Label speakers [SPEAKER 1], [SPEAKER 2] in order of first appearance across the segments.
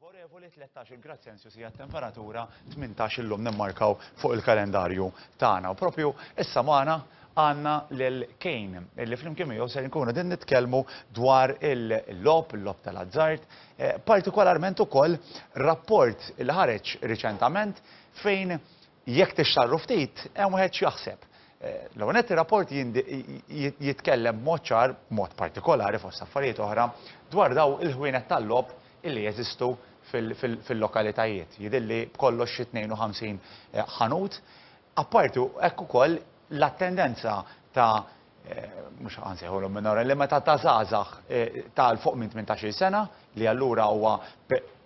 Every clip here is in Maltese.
[SPEAKER 1] Favorevoli 13 il-grad Celsius hija temperatura 18 illum nemmarkaw fuq il-kalendarju tagħna. U propju issa magħna għandna lil Kejn illi flimkien miegħu ser nkunu din nitkellmu dwar il-lob, il-lob tal-azzard, eh, partikolarment ukoll rapport il ħareġ riċentament fejn Jekk tixtarru ftit, hemm wieħed x'jaħseb. L-ewwel nett ir-rapport jitkellem b'mod ċar, b'mod partikolari fost affarijiet oħra, dwar dawn il-ħwienet tal-logħob illi jeżistu fil-lokalitajiet. Jidhirli b'kollox xi 52 ħanut. Apparti hekk ukoll l-attendenza ta' mhux għan sejħulhom minora, li meta ta' żgħażagħ eh, ta' l fuq minn 18-il sena li allura huwa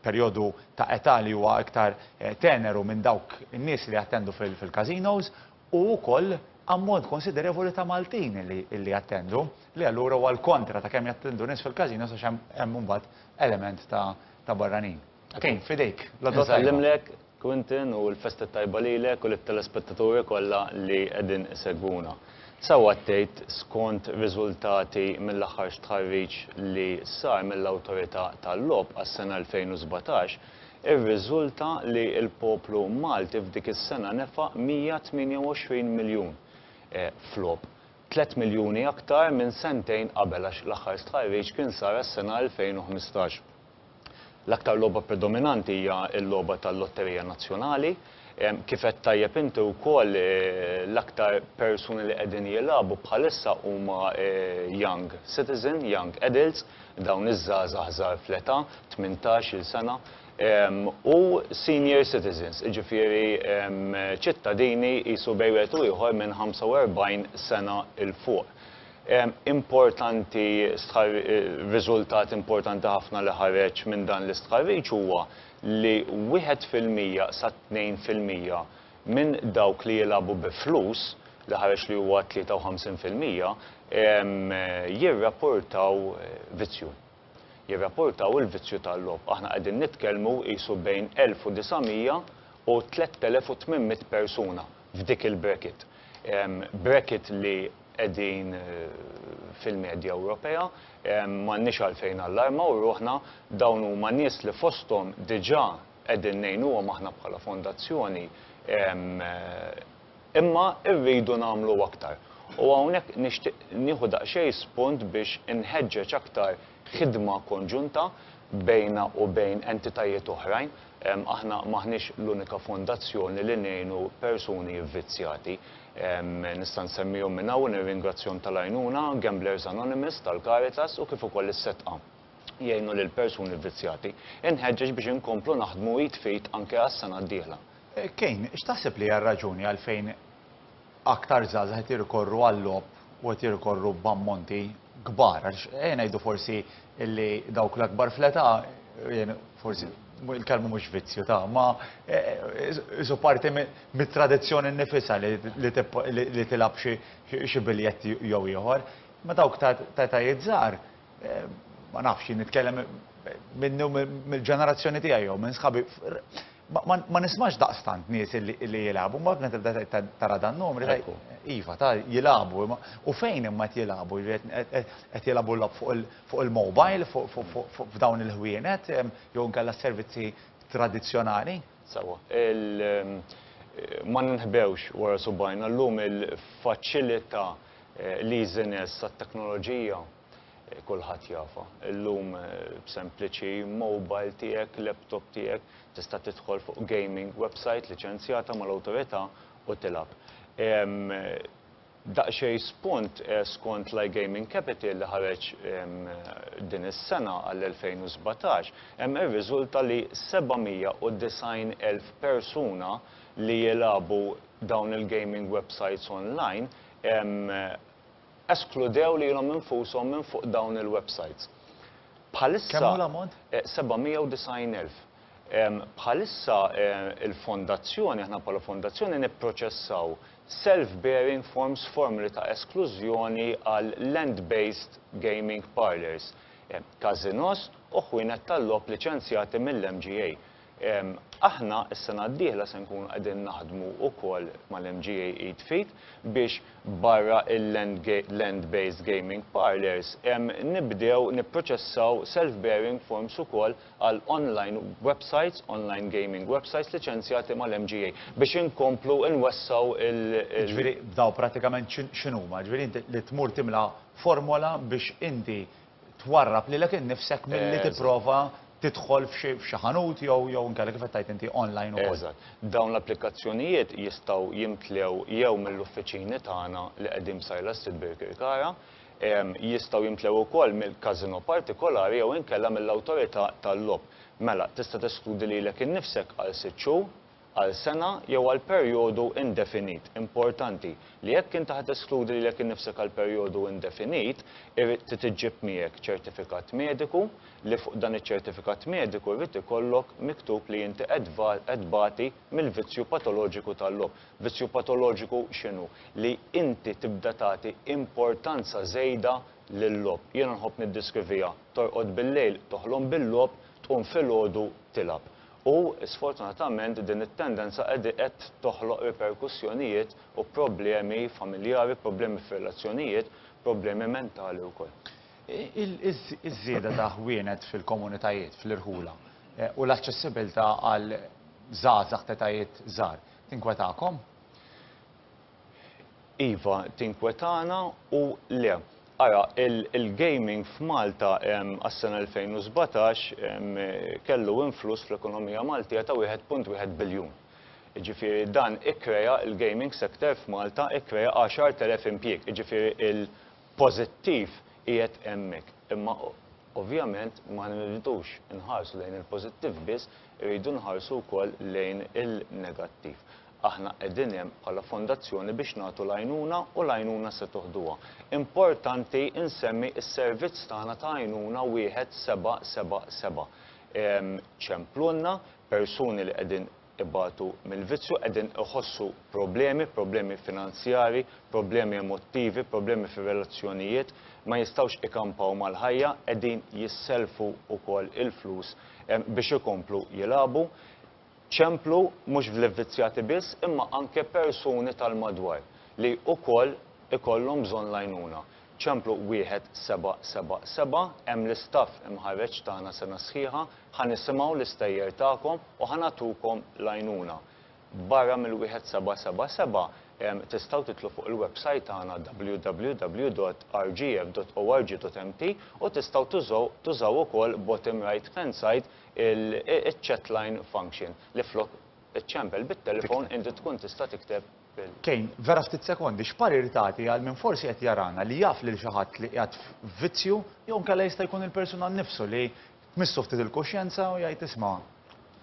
[SPEAKER 1] perjodu ta' età li huwa iktar eh, teneru minn dawk in-nies li jattendu fil-casinos u wkoll ammont konsiderevoli ta' Maltin li jattendu li allura huwa l-kontra ta' kemm jattendu nies fil-casinos għax hemm imbagħad element ta' barranin. Tkun f'idejk. L-Għodwa Tajba. Insellimlek, Quintin, u l-Festa t-Tajba lilek u lit-telespettaturi kollha li qegħdin isegwuna. Sewwa għaddejt skont riżultati mill-aħħar stħarriġ li sar mill-Awtorità tal-Logħob għas-sena 2017, irriżulta li l-poplu Malti f'dik is-sena nefaq 128 miljun f'logħob. Tliet miljuni aktar minn sentejn qabel għax l-aħħar stħarriġ kien sar għas-sena 2015. L-aktar logħba predominanti hija l-logħba tal-Lotterija Nazzjonali. Kif għedt tajjeb inti wkoll, l-aktar persuni li qegħdin jilagħbu bħalissa huma young citizen, young adults, dawn iż-żgħażagħ żgħar fl-età, tmintax-il sena, u senior citizens, jiġifieri ċittadini qisu bejn wieħed u ieħor minn 45 sena 'l fuq. Importanti stħar, riżultat importanti ħafna li ħareġ minn dan l-istħarriġ huwa li wieħed fil-mija sa tnejn fil-mija minn dawk li jilagħbu bi flus, li ħareġ li huwa 53 fil-mija, jirrapportaw vizzju. jirrapportaw il-vizzju tal-logħob. Aħna qegħdin nitkellmu qisu bejn 1,900 u 3,800 persuna f'dik il-bracket. Bracket li qegħdin fil-medja Ewropea, m'għandniex għalfejn nallarmaw ruħna, dawn huma nies li fosthom diġà qegħdin ngħinuhom aħna bħala fondazzjoni, Imma rridu nagħmlu aktar. U hawnhekk nixtieq nieħu daqsxejn spunt biex inħeġġeġ aktar ħidma konġunta bejna u bejn entitajiet oħrajn. Aħna m'aħniex l-unika fondazzjoni li ngħinu persuni vvizzjati. Nista' nsemmihom minn hawn u nirringrazzjahom tal-għajnuna, Gamblers Anonymous tal-Caritas u kif ukoll is-Setqa jgħinu lill-persuni vvizzjati. Inħeġġeġ biex inkomplu naħdmu id f'id anke għas-sena d-dieħla. Kane, x'taħseb li hija r-raġuni għalfejn aktar żgħażagħ qed jirrikorru għal-logħob u qed jirrikorru b'ammonti kbar? Għax ejja ngħidu forsi li dawk l-akbar fl-età, forsi il-kelma mhux vizzju ta', imma qisu parti mit-tradizzjoni nnifisha li tilgħab xi biljett jew ieħor, imma dawk ta' etajiet żgħar, ma nafx, jien nitkellem minni u mill-ġenerazzjoni tiegħi jew minn sħabi, ma nismax daqstant nies li jilagħbu, mbagħad meta tibda tara dan numri tgħid, iva, ta' jilagħbu, u fejn imma qed jilagħbu, qed jilagħbu l-logħob fuq il-mobile, f'dawn il-ħwienet, jew inkella s-servizzi tradizzjonali? Sewwa. Ma ninħbewx wara subgħajna, llum il-faċilità L-easiness tat-teknoloġija kulħadd jafha. Illum b'sempliċi mobile tiegħek, laptop tiegħek, tista' tidħol fuq gaming website liċenzjata mal-awtorità u tilgħab. Daqsxejn spunt skont l-iGaming Capital li ħareġ din is-sena għall-2017, hemm irriżulta li 790,000 persuna li jilagħbu dawn il-gaming websites online eskludew lilhom infushom minn fuq dawn il-websites. Bħalissa. Kemm hu l-ammont? 790,000. Bħalissa il-Fondazzjoni, aħna bħala Fondazzjoni nipproċessaw self-bearing forms, formoli ta' esklużjoni għal land-based gaming parlours, każinos u ħwienet tal-logħob liċenzjati mill-MGA. Aħna s-sena d-dieħla se nkunu qegħdin naħdmu wkoll mal-MGA id f'id biex barra l-land based gaming parlours nibdew nipproċessaw self bearing forms ukoll għal online websites, online gaming websites liċenzjati mal-MGA biex inkomplu nwessgħu l-, Jiġifieri dawn prattikament x'inhuma? Jiġifieri inti li tmur timla formola biex inti twarrab lilek innifsek milli tipprova tidħol f'xi ħanut jew jew inkella kif qed tgħid inti online ukoll. Eżatt. Dawn l-applikazzjonijiet jistgħu jimtlew jew mill-uffiċini tagħna li qegħdin b'sajla s-sit Birkirkara, jistgħu jimtlew ukoll mill-każinò partikolari jew inkella mill-awtorità tal-logħob. Mela, tista' teskludi lilek innifsek għal sitt xhur. għal sena jew għal perjodu indefinit, importanti li jekk inti ħa teskludi lilek innifsek għal perjodu indefinit, irid trid iġġib miegħek ċertifikat mediku li fuq dan iċ-ċertifikat mediku jrid ikollok miktub li inti qed qed tbati mill-vizzju patoloġiku tal-logħob. Vizzju patoloġiku x'inhu? Li inti tibda tagħti importanza żejda lil-logħob. Jiena nħobb niddiskrivija, torqod bil-lejl, toħlom bil-logħob, tqum filgħodu tilgħab. U, sfortunatament, din it-tendenza qegħdi qed toħloq riperkussjonijiet u problemi familjari, problemi f'relazzjonijiet, problemi mentali wkoll. Iż-żieda ta' ħwienet fil-komunitajiet, fl-irħula, u l-aċċessibilità għal żgħażagħ t'etajiet żgħar, tinkwetakom? Iva tinkwetana u le. Ara, il-gaming f'Malta għas-sena 2017 kellu influss fl-ekonomija Maltija ta' 1.1 biljun. Jiġifieri dan ikkrea, il-gaming sector f'Malta ikkrea 10,000 impjieg. Jiġifieri l-pożittiv qiegħed hemmhekk. Imma ovvjament ma nridux inħarsu lejn il-pożittiv biss, irridu nħarsu wkoll lejn il-negattiv. Aħna qegħdin hemm bħala fondazzjoni biex nagħtu l-għajnuna u l-għajnuna se toħduha. Importanti nsemmi s-servizz tagħna ta' għajnuna wieħed seba' seba' seba'. Ċemplulna persuni li qegħdin ibatu mill-vizzju, qegħdin iħossu problemi, problemi finanzjarji, problemi emottivi, problemi fir-relazzjonijiet, ma jistgħux ikampaw mal-ħajja, qegħdin jissellfu wkoll il-flus biex ikomplu jilagħbu. Ċemplu mhux fl-ivvizzjati biss imma anke persuni tal-madwar li ukoll ikollhom bżonn l-għajnuna. Ċemplu 1777, hemm l-istaff imħarreġ tagħna sena sħiħa, ħa nisimgħu l-istejjer tagħkom u ħa nagħtukom l-għajnuna. Barra mill-1777, tistgħu tidħlu fuq il-websajt tagħna www.rgf.org.mt u tistgħu tużaw tużaw ukoll bottom right hand side il-chat line function li flok iċċempel bit-telefon inti tkun tista' tikteb bil. Kane, vera ftit sekondi, x'parir tagħti għal min forsi qed jarana li jaf lil xi ħadd li qiegħed f'vizzju jew inkella jista' jkun il-persuna nnifsu li tmissu ftit il-kuxjenza u jgħid isma'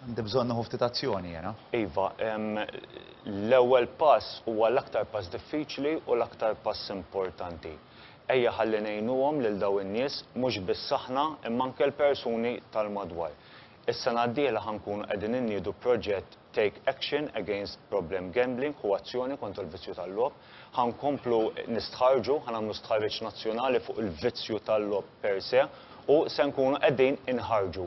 [SPEAKER 1] għandi bżonn nieħu ftit azzjoni jiena? Iva, l-ewwel pass huwa l-aktar pass diffiċli u l-aktar pass importanti. Ejja ħalli ngħinuhom lil dawn in-nies, mhux biss aħna, imma anke l-persuni tal-madwar. Is-sena d-dieħla ħa nkunu qegħdin inniedu proġett Take Action Against Problem Gambling ħu azzjoni kontra l-vizzju tal-logħob. Ħa nkomplu nistħarrġu, ħa nagħmlu stħarriġ nazzjonali fuq il-vizzju tal-logħob per se u se nkunu qegħdin inħarrġu